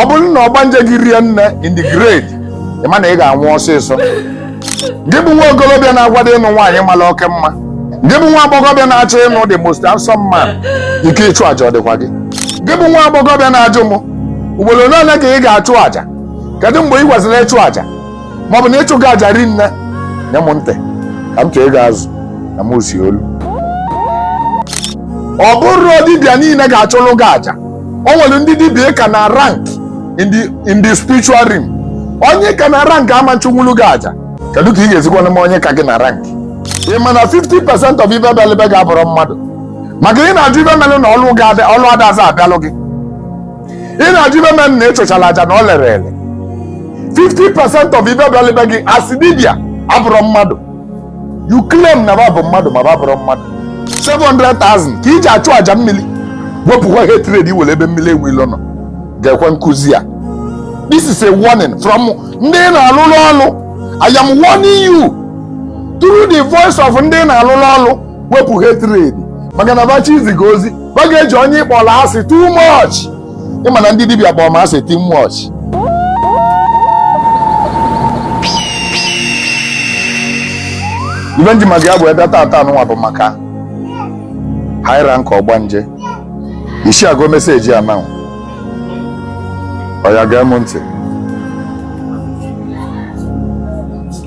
ọ bụrụ na ọgbanje gị rie nne in the grade ị ma na ị ga-anwụ ọsịsọ gị bụ nwa okolobịa na-akwado ịnụ nwaanyị mara oke mma gị bụ nwa agbọghọbịa na-achọ ịnụ the most handsome man ike ịchụ àjà ọ dịkwa gị gị bụ nwa agbọghọbịa na-ajụ m ugboro ole ole ka ị ga-achụ àjà kedu mgbe ị kwesịrị ịchụ àjà ma ọ bụ na ịchụ gị aja ri nne nye m ntị ka m chọọ ịga azụ na m ozi olu ọ bụrọ dibịa niile ga-achụlụ gị aja o nwere ndị dibịa ị ka na rank in the in the spiritual realm onye ị ka na rank ama achụnwulu gị aja kedu ka ị ga-esikwanụ ma onye ka gị na rank ị ma na 50 percent of ibe bịalụ be gị abụrọ mmadụ maka ị na-ajụ ibe melụ na ọlụ ga-adị- ọlụ adazi abịalụ gị ị na-ajụ ibe melụ na ị chụchala aja na o lerọ ele 50% of ibe bịalụ be gị as dibia abụrọ mmadụ you claim na ba bụ mmadụ ma ba abụrọ mmadụ 700,000 ka e ji achụ aja mmiri wepụkwa hatred i nwere ebe mmiri ewu ilo nọ ga-ege nkụzi a this is a warning from ndị na-alụrụ ọlụ i am warning you through the voice of ndị na-alụrụ ọlụ wepụ hatred maka na ba chọọ izi gị ozi ba ga-eji onye ị kpọrọ asị too much ị ma na ndị dibịa kpọrọ m asị too much ibe m ji maka ya wee bịa tata a nụnwa bụ maka high rank ọgbanje isi agụ message a now oya gee m ntị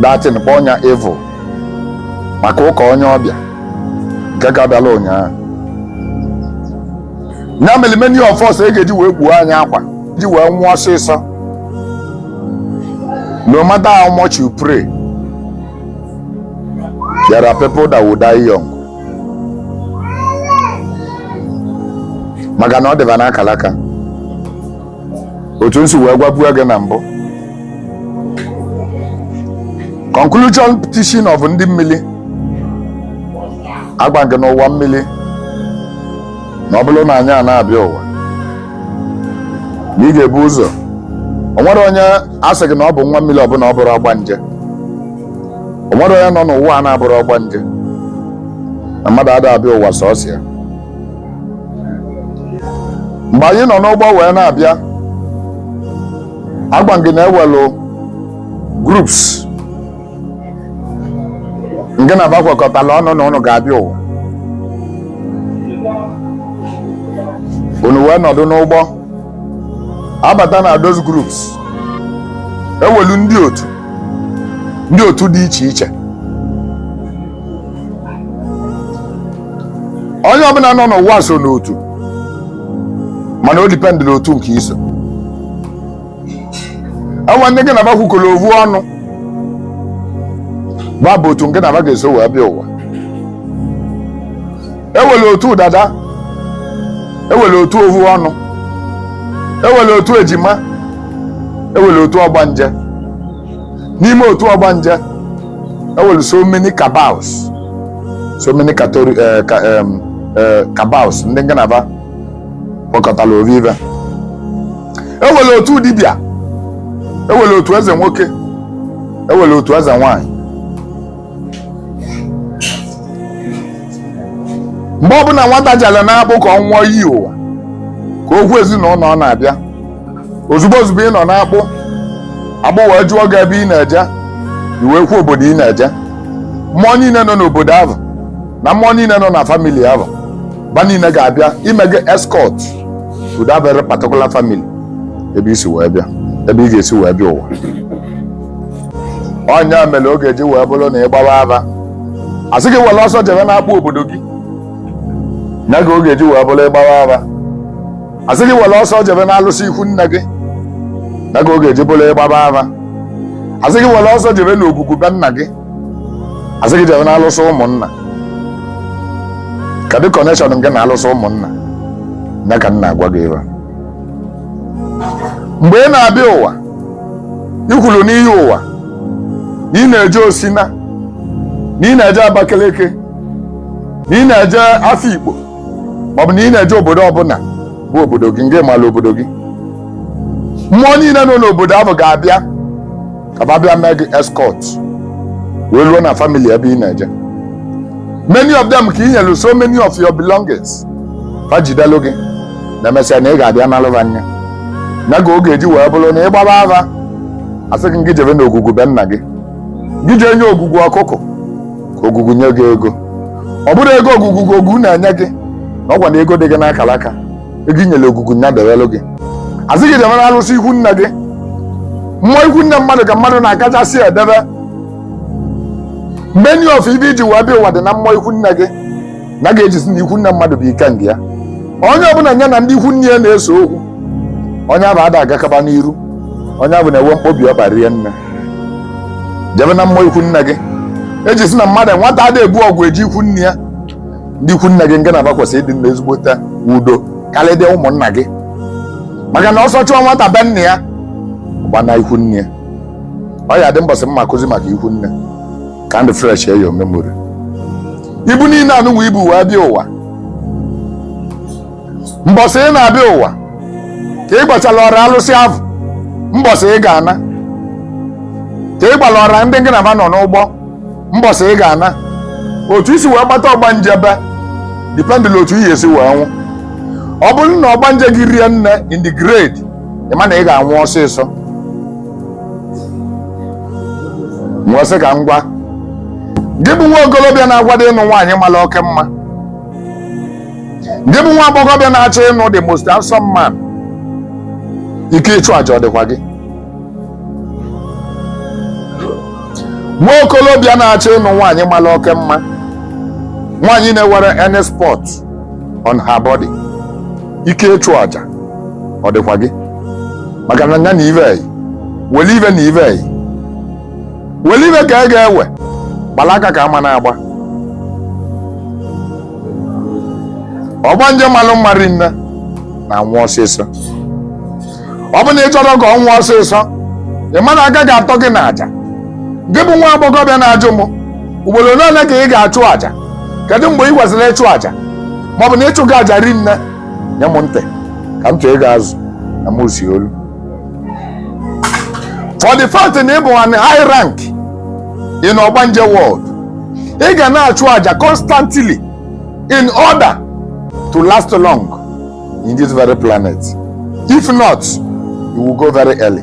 that thing kpọọ ya evil maka ụka onye ọbịa nke ka bịala ụnyaahụ ya mere many of us e ga-eji wee kpuo anyị akwa ji wee nwụọ ọsịsọ no matter how much you pray there are people that will die young maka na ọ dị ba n'akala aka otu m si wee gwabuo gị na mbụ conclusion teaching of ndị mmiri agwa gị n'ụwa mmiri na ọ bụrụ na anyị a na-abịa ụwa na ị ga-ebu ụzọ o nwere onye a sị gị na ọ bụ nwa mmiri ọ bụ na ọ bụrọ ọgbanje o nwerọ onye nọ n'ụwa a na-abụrọ ọgbanje na mmadụ ada abịa ụwa sọsọ ya mgbe anyị nọ n'ụgbọ wee na-abịa agwa gị na enwelụ groups nke na ba kwekọtala ọnụ na ụnụ ga-abịa ụwa unu wee nọdụ n'ụgbọ abata na those groups enwelu ndị otu ndị otu dị iche iche onye ọbụla nọ n'ụwa so n'otu mana o dipendịrị otu nke i so enwe ndị gị na ba kwukọrọ ovu ọnụ ba bụ otu nke na ba ga-eso wee bịa ụwa enwere otu dada enwere otu ovu ọnụ enwere otu ejima enwere otu ọgbanje n'ime otu ọgbanje enwere so many cabals so many catori- eh, ka- em, eh, cabals ndị ngị na ba kwekọtara ovu ive enwere otu dibịa enwere otu eze nwoke enwere otu eze nwanyị mgbe ọbụla nwata jere n'akpụ ka ọ ṅụọ iyi ụwa ka o kwuo ezinụlọ ọ na-abịa ozugbo ozugbo ị nọ n'akpụ akpụ wee jụọ gị ebe ị na-eje i wee kwuo obodo ị na-eje mmụọ niile nọ n'obodo ahụ na mmụọ niile nọ na family ahụ ba niile ga-abịa ime gị escort to that very particular family ebe i si wee bịa ebe ị ga-esi wee bịa ụwa ọ nya mere ọ ga-eji wee bụrụ na ị gbawa ava asị gị were ọsọ jebe n'akpụ obodo gị nya ka ọ ga-eji wee bụrụ ị gbawa ava asị gị were ọsọ jebe n'alụsị ikwu nne gị nya ka ọ ga-eji bụrụ ị gbaba ava asị gị were ọsọ jebe n'ogwugwu be nna gị asị gị jebe n'alụsị ụmụnna kedu connection ngị na alụsị ụmụnna nya ka m na-agwa gị ebe a. mgbe ị na-abịa ụwa ị kwuru n'iyi ụwa na ị na-eje osina na ị na-eje abakaliki na ị na-eje afikpo ma ọ bụ na ị na-eje obodo ọbụla bụ obodo gị ngị mala obodo gị mmụọ niile nọ n'obodo ahụ ga-abịa ka ba bịa mee gị escort wee ruo na family ebe ị na-eje many of them ka ị nyelu so many of your belongings fa jidelu gị na emesịa na ị ga-abịa nalụ ba nya nya ka ọ ga-eji wee bụrụ na ị gbaba afa asị gị gị jebe n'ogwugwu be nna gị gị jee nye ogwugwu ọkụkụ ka ogwugwu nye gị ego ọ bụrọ ego ogwugwu ka ogwugwu na-enye gị na ọ kwa na ego dị gị n'akara aka ego i nyere ogwugwu nya dewelụ gị asị gị jebe n'arụsị ikwu nne gị mmụọ ikwu nne mmadụ ka mmadụ na-akachasị edebe many of ive i ji wee bịa ụwa dị na mmụọ ikwu nne gị nya ka e ji sị na ikwu nne mmadụ bụ ikenga ya onye ọbụla nya na ndị ikwu nne ya na-ese okwu onye abụ ada agakaba n'iru onye abụ na-enwe mkpobi ọkpa rinne jebe na mmụọ ikwu nne gị e ji sị na mmadụ nwata ada ebu ọgwụ eje ikwu nne ya ndị ikwu nne gị ngị na va kwesịrị ịdị na ezigbote udo karịdị ụmụnna gị maka na ọsọ chụọ nwata be nna ya gbana ikwu nne ya ọ ya-adị mbọsị m ma-akụzi maka ikwu nne ka m refreshịa your memory ibu niile anụnwa i bu wee bịa ụwa mbọsị ị na-abịa ụwa ka ị gwachala ọra alụsị ahụ mbọsị ị ga-ana ka ị gwala ọra ndị gị na ha nọ n'ụgbọ mbọsị ị ga-ana otu i si wee gbata ọgbanje be dependịlị otu i ya-esi wee nwụ ọ bụrụ na ọgbanje gị rie nne in the grade ị ma na ị ga-anwụ ọsịsọ nwesị ka ngwa gị bụ nwa okolobịa na-agwado ịnụ nwaanyị mara oke mma gị bụ nwa agbọghọbịa na-achọ ịnụ the most handsome man ike ịchụ aja ọ dịkwa gị nwa okolobịa na-achọ ịnụ nwaanyị mara oke mma nwaanyị na-enwerọ any spot on her body ike ịchụ aja ọ dịkwa gị maka na ya na ive were ive na ive were ive ka e ga-ewe gbara aka ka a ma na-agba ọgbanje malụ mma rie nne na-anwụ ọsịsọ ọ bụ na ị chọrọ ka ọ nwụọ ọsịsọ ị ma na aka ga-atọ gị na aja gị bụ nwa agbọghọbịa na-ajụ m ugboro ole ole ka ị ga-achụ aja kedu mgbe ị kwesịrị ịchụ aja maọbụ na ịchụ gị aja rie nne nye m ntị ka m chọọ ego azụ na m si olu for the fact na ị bụ an high rank in ogbanje world ị ga na-achụ aja constantly in order to last long in this very planet if not you will go very early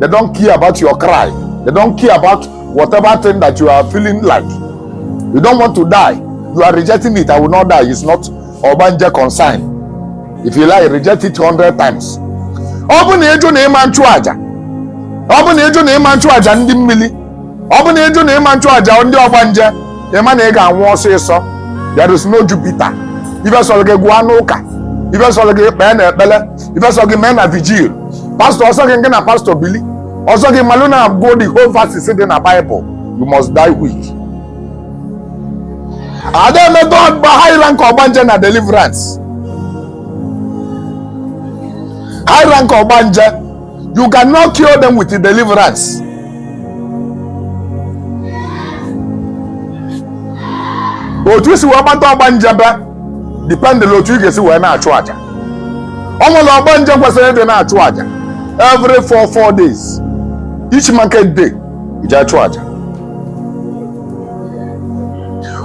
they don't care about your cry they don't care about whatever thing that you are feeling like you don't want to die you are rejecting it i will not die it's not ogbanje concern if you like reject it 100 times ọ bụ na ị jụ na ị ma na-achụ aja ọ bụ na ị jụ na ị ma na-achụ aja ndị mmili ọ bụ na ị jụ na ị ma na-achụ aja ndị ọgbanje ị ma na ị ga-anwụ ọsịsọ there is no Jupiter ife sọrọ gị gụọ n'ụka ife sọrọ gị kpee na ekpele ife sọrọ gị mee na vigil pastọ ọ sọ gị ngị na pastọ bili ọ sọ gị malụ na-agụ the whole verses dị na Bible you must die quick ada emegodukwa high rank ọgbanje na deliverance high rank ọgbanje You cannot cure them with deliverance. otu i si wee gbata ọgbanje be dependịlị otu ị ga-esi wee na-achụ aja o nwere ọgbanje kwesịrị ịdị na-achụ aja every four four days each market day iji achụ aja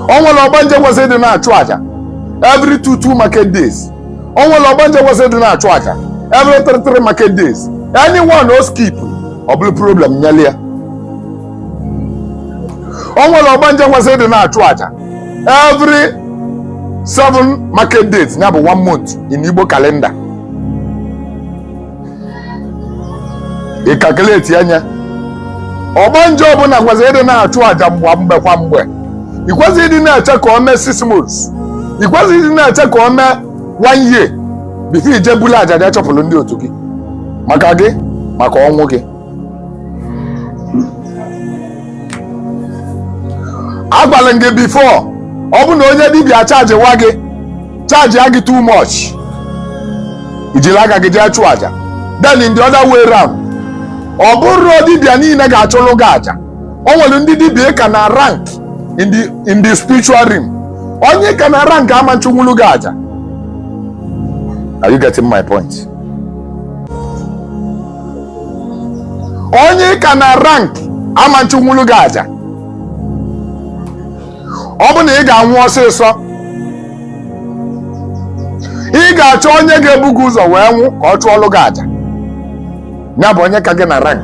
o nwere ọgbanje kwesịrị ịdị na-achụ aja every two two market days o nwere ọgbanje kwesịrị ịdị na-achụ aja every three three market days any one ọ skip ọ bụrụ problem nyere ya o nwere ọgbanje kwesịrị ịdị na-achụ aja every seven market days nya bụ one month in Igbo calendar ị calculatịa nya ọgbanje ọbụla kwesịrị ịdị na-achụ àjà mgbe mgbe kwa mgbe ị kwesịrọ ịdị na-eche ka o mee six months ị kwesịrọ ịdị na-eche ka o mee one year before i jee bulu àjà jee chụpụlụ ndị otu gị maka gị maka ọnwụ gị agwalụ m gị before ọ bụ na onye dibịa chargiwa gị chargia gị too much i jiri aka gị jee chụọ aja then in the other way round ọ bụrọ dibịa niile ga-achụlụ gị aja o nwere ndị dibịa ị ka na rank in the in the spiritual realm onye ị ka na rank ama nchụnwulu gị aja are you getting my point onye ị ka na rank ama nchụnwulu gị aja ọ bụ na ị ga-anwụ ọsịsọ ị ga-achọ onye ga-ebu gị ụzọ wee nwụ ka ọ chụọlụ gị aja ya bụ onye ka gị na rank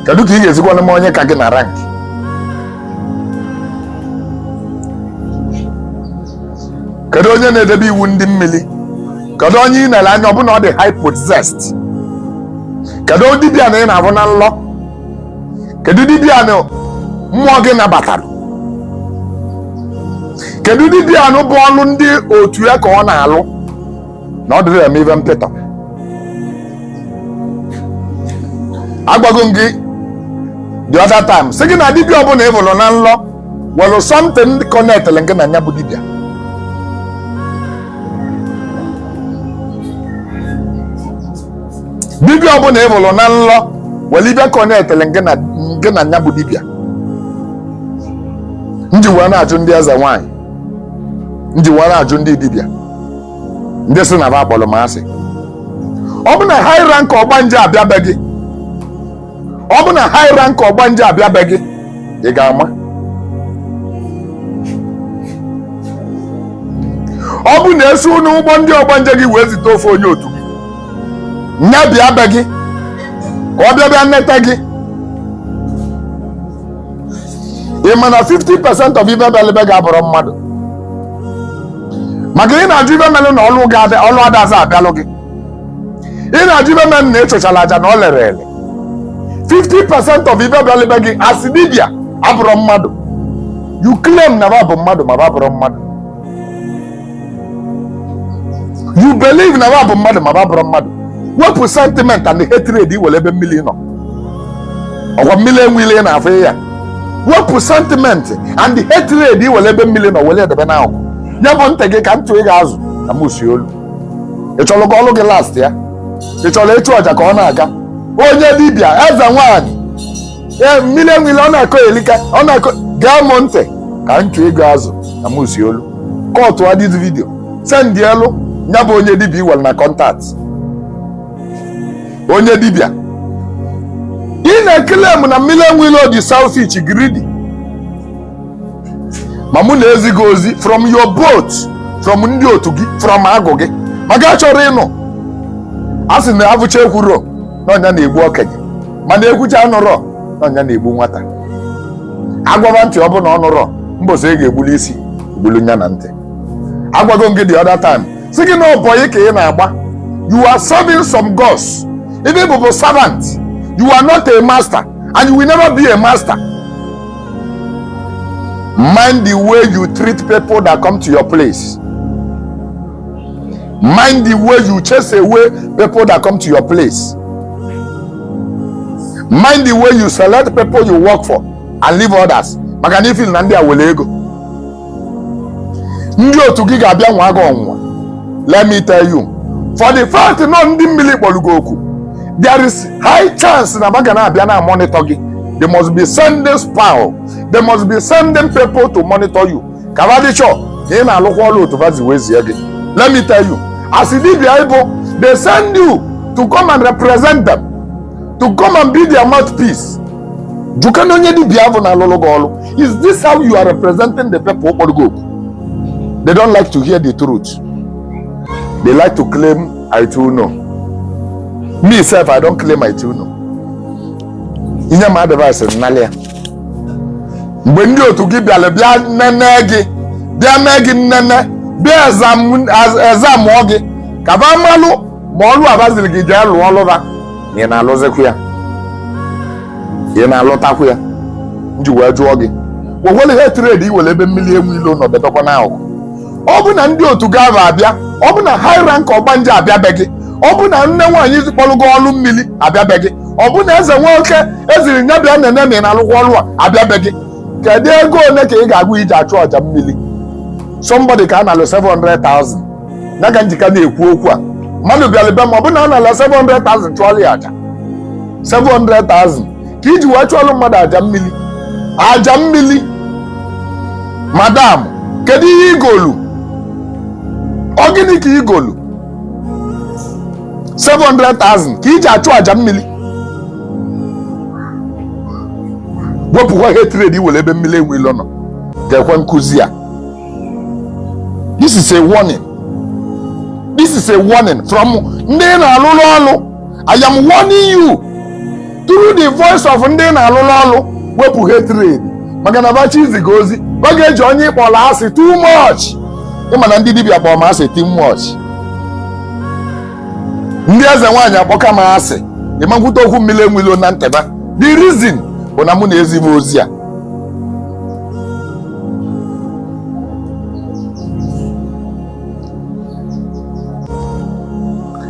kedu ka ị ga-esikwanụ ma onye ka gị na rank kedu onye na-edebe iwu ndị mmiri kedu onye ị na-ele anya ọ bụ na ọ dị hypothesized kedu dibịa na ị na-abụ na nlọ kedu dibịa na mmụọ gị nabatara kedu dibịa na ọ bụ ọlụ ndị otu ya ka ọ na-alụ na ọ dịrọ eme ibe mpịtọ agwago m gị the other time sị gị na dibịa ọbụla ị bụrụ na nlọ nwelụ something connectịrị ngị na nya bụ dibịa dibịa ọbụla ị hụrụ na nlọ nwere ibe connectịrị ngị na nya bụ dibịa m ji wee na-ajụ ndị eze nwaanyị m ji wee na-ajụ ndị dibịa ndị sị na ba kpọrọ m asị ọ bụ na high rank ọgbanje abịa be gị ọ bụ na high rank ọgbanje abịa be gị ị ga-ama ọ bụ na esi n'ụgbọ ndị ọgbanje gị wee zite ofu onye otu gị nya bịa be gị ka ọ bịa bịa nneta gị ị ma na 50% of ive bịalụ be gị abụrọ mmadụ maka ị na-ajụ ive melụ na ọlụ adazi abịalụ gị ị na-ajụ ive melụ na ị chụchala aja na o lero ele 50 percent of ive bịalụ be gị as dibia abụrọ mmadụ you claim na ba bụ mmadụ ma ba abụrọ mmadụ you believe na ba bụ mmadụ ma ba abụrọ mmadụ wepụ sentiment and hatred i nwere ebe mmiri nọ ọkwa mmiri enwe ilo na-afụ ya wepụ sentiment and hatred i nwere ebe mmiri nọ were edebe n'akụkụ ya bụ ntị gị ka ntụ ị ga-azụ na mụ si olu ị chọrọ ka ọlụ gị lastịa ị chọrọ ịchụ aja ka ọ na-aga onye dibịa eze nwaanyị ee mmiri enwe ilo na-akọ elika ọ na-akọ gee m ntị ka m chụọ ị ga-azụ na m si olu kọtụa this vidio sendịelụ ya bụ onye dibịa i nwere na kọntaktị onye dibịa ị na-eclaim na mmiri enwe ilo dị selfish greedy ma mụ na-ezi gị ozi from your boat from ndị otu gị from agụ gị ma gị achọrọ ịnụ a sị na avụcha ekwuro na ọ nya na-egbu okenye mana ekwucha anụrọ na ọ nya na-egbu nwata a gwaba ntị ọ bụ na ọ nụrọ mbọsị a ga-egbulu isi egbulu nya na ntị agwago m gị the other time sị gị na ọ bọyị ka ị na-agba you are serving some gods ive ị bụ bụ servant you are not a master and you will never be a master Mind the way you treat people that come to your place. Mind the way you chase away people that come to your place. Mind the way you select people you work for and leave others. Maka na ifil na ndị a were ego. ndị otu gị ga-abịa nwaa gị ọnwụnwa let me tell you for the fact na ndị mmiri kpọrọ gị oku there is high chance na ba ga na-abịa na monitor gị they must be sending spy they must be sending people to monitor you ka ba dị sure na ị na-alụkwa ọrụ otu va si wee zie gị let me tell you as dibia ị bụ they send you to come and represent them to come and be their mouthpiece jụkanụ onye dibia bụ na-alụlụ gị ọrụ Is this how you are representing the people kpọrọ gị oku? They don't like to hear the truth. They like to claim I too know. Me self, I don't claim I too know. I nye m advice m nalụ ya. Mgbe ndị otu gị bịara bịa nene gị, bịa nee gị nnene, bịa examụọ gị, ka ba malụ ma ọlụ a ba ziri gị jee lụọ ọlụ ba ị na-alụzikwu ya ị na-alụtakwu ya nji wee jụọ gị wewere hatred iwere ebe mmiri enwe ilo nọ bedokwa n'akụkụ ọ bụ na ndị otu gava abịa ọ bụ na high rank ọgbanje abịa be gị ọ bụ na nne nwaanyị kpọrọgo ọlụ mmiri abịa be gị ọ bụ na eze nwoke eziri nya bịa nene ma ị na-alụkwa ọlụ a abịa be gị kedu ego ole ka ị ga-agwa ya iji achụ aja mmiri somebody ka a naalụ 700,000 ya ka njika na-ekwu okwu a mmadụ bịara be m ọ bụ na a naalụ 700,000 chụọlụ ya aja 700,000 ka iji wee chụọlụ mmadụ aja mmiri aja mmiri madam kedu ihe igolu ọ gịnị ka igolu 700,000 ka iji achụ aja mmiri wepụkwa hatred iwere ebe mmiri enwe ilo nọ geekwa nkụzi a this is a warning this is a warning from ndị na-alụlụ ọrụ i am warning you through the voice of ndị na-alụlụ ọrụ wepụ hatred maka na ba chọ iziga ozi ba ga-eji onye ịkpọrọ asị too much ịma na ndị dibịa kpọrọ m asị too much ndị eze nwaanyị akpọka m asị ị ma kwute okwu mmiri enwe ilo na internet the reason bụ na mụ na-ezi bụ ozi a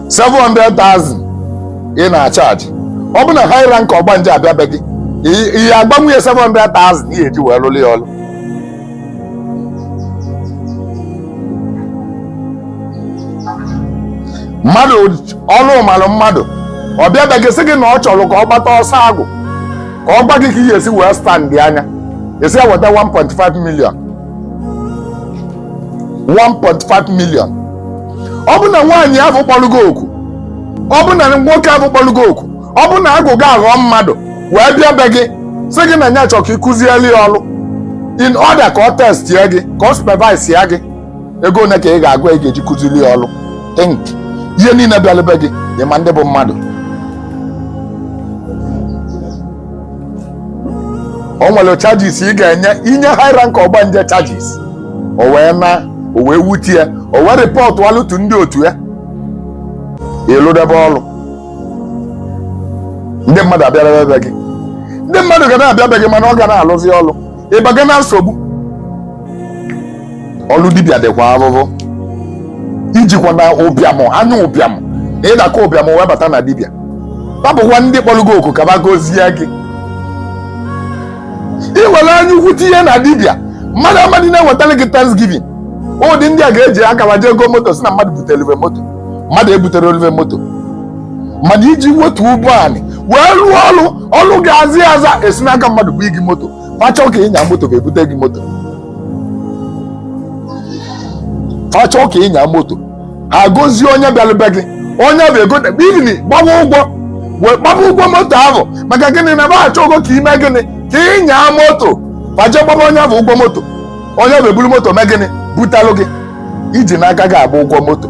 seven hundred thousand ị na-achaji ọ bụ na high rank ọgbanje abịa be gị ihe agbanwe ya seven hundred thousand ihe eji wee lụrụ ya ọrụ mmadụ ọrụ malụ mmadụ ọ bịa be gị sị gị na ọ chọrọ ka ọ gbata ọsọ agwụ ka ọ gwa gị ka ị ga-esi wee stand dị anya esi eweta 1.5 million 1.5 million ọ bụ na nwaanyị ahụ kpọrọ gị oku ọ bụ na nwoke ahụ kpọrọ gị oku ọ bụ na agwụ gị aghọọ mmadụ wee bịa be gị sị gị na ya chọrọ ka ị kụzieli ya ọrụ in order ka ọ testie gị ka ọ supervisie gị ego one ka ị ga-agwa ya ị ga-eji kụziri ya ọrụ think ihe niile bịara be gị ị ma ndị bụ mmadụ o nwere charges ị ga-enye inye high rank ọgbanje charges o wee na o wee wuti ya o wee rịpọtụ alụtu ndị otu ya ịlụdebe ọrụ ndị mmadụ abịadebe be gị ndị mmadụ ga na-abịa be gị mana ọ ga na-alụzi ọrụ ịbaga na nsogbu ọlụ dibịa dịkwa ahụhụ ijikwana ụbịam anya ụbịam na ịdakọ ụbịam wee bata na dibịa ba bụkwa ndị kpọrọ gị oku ka ba gozie gị ị were anya ukwu tinye na dibịa mmadụ amadị na-ewetara gị thanksgiving ụdị ndị a ga-eji akara jee ego moto sị na mmadụ butere olive moto mmadụ ebutere olive moto mana iji wetu ụgbọ anyị wee rụọ ọrụ ọlụ gị azị aza esi n'aka mmadụ bute gị moto fa chọ ka ịnya moto ga-ebute gị moto fa chọ ka ịnya moto ha gozie onye bịara be gị onye bụ egote bini gbawa ụgwọ wee gbaba ụgwọ moto ahụ maka gịnị na ba achọgo ka i mee gịnị ka ịnya moto fa je gbaba onye bụ ụgwọ moto onye bụ eburu moto mee gịnị butalụ gị ijina aka gị agba ụgwọ moto